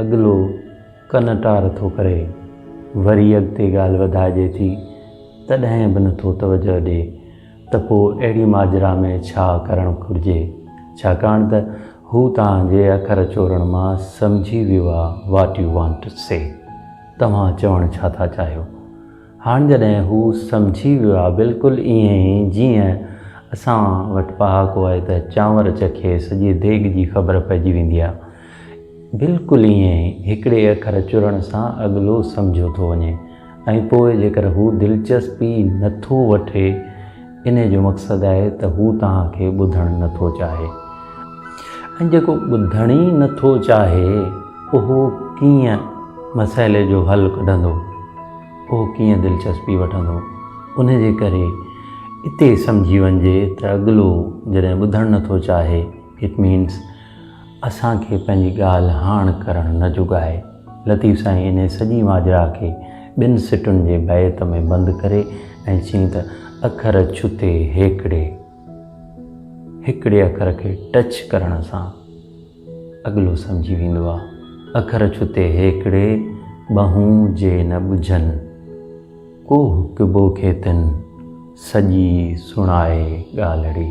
اڳلو ڪن ٽار ٿو ڪري، وري اڳتي ڳالهه وڌائجي ٿي، تڏهن به نٿو توجهه ڏي ته پوء اهڙي ماجرا ۾ ڇا ڪرڻ گهرجي، ڇاڪاڻ ته هو توهان جي اکر چورڻ مان سمجهي ويو آهي What you want to say توهان چوڻ ڇا ٿا چاهيو؟ هاڻ جڏهن هو سمجهي ويو آهي بلڪل ائين ئي جيئن اسان وٽ پهاڪو آهي ته چانور چکي سڄي ديڳ جي خبر پئجي ويندي آهي بلڪل ائين ئي هڪڙي اکر چرڻ سان اڳلو سمجهيو ٿو وڃي ۽ پوء جيڪر هو دلچسپي نٿو وٺي انهيء جو مقصد آهي ته هو توهان کي ٻڌڻ نه ٿو چاهي. ۽ جيڪو ٻڌڻ ئي نه ٿو چاهي، اهو ڪيئن مسئلي جو حل ڪڍندو؟ اهو ڪيئن دلچسپي وٺندو؟ انهيء جي ڪري اتي سمجهي وڃجي ته اڳلو جڏهن ٻڌڻ نه ٿو چاهي، It means، اسان کي پنهنجي ڳالهه هاڻ ڪرڻ نه جوڳائي. لطيف سائين انهي سڄي ماجرا کي ٻن سٽن جي بيت ۾ بند ڪري ۽ چيائين ته اکر ڇتي هيڪڙي هڪڙي اکر کي ٽچ ڪرڻ سان اڳلو سمجهي ويندو آ اکر ڇتي هيڪڙي ٻهون جي نه ٻجهن. ڪوهه ڪبو کيتن سڄي سڻائي ڳالهڙي.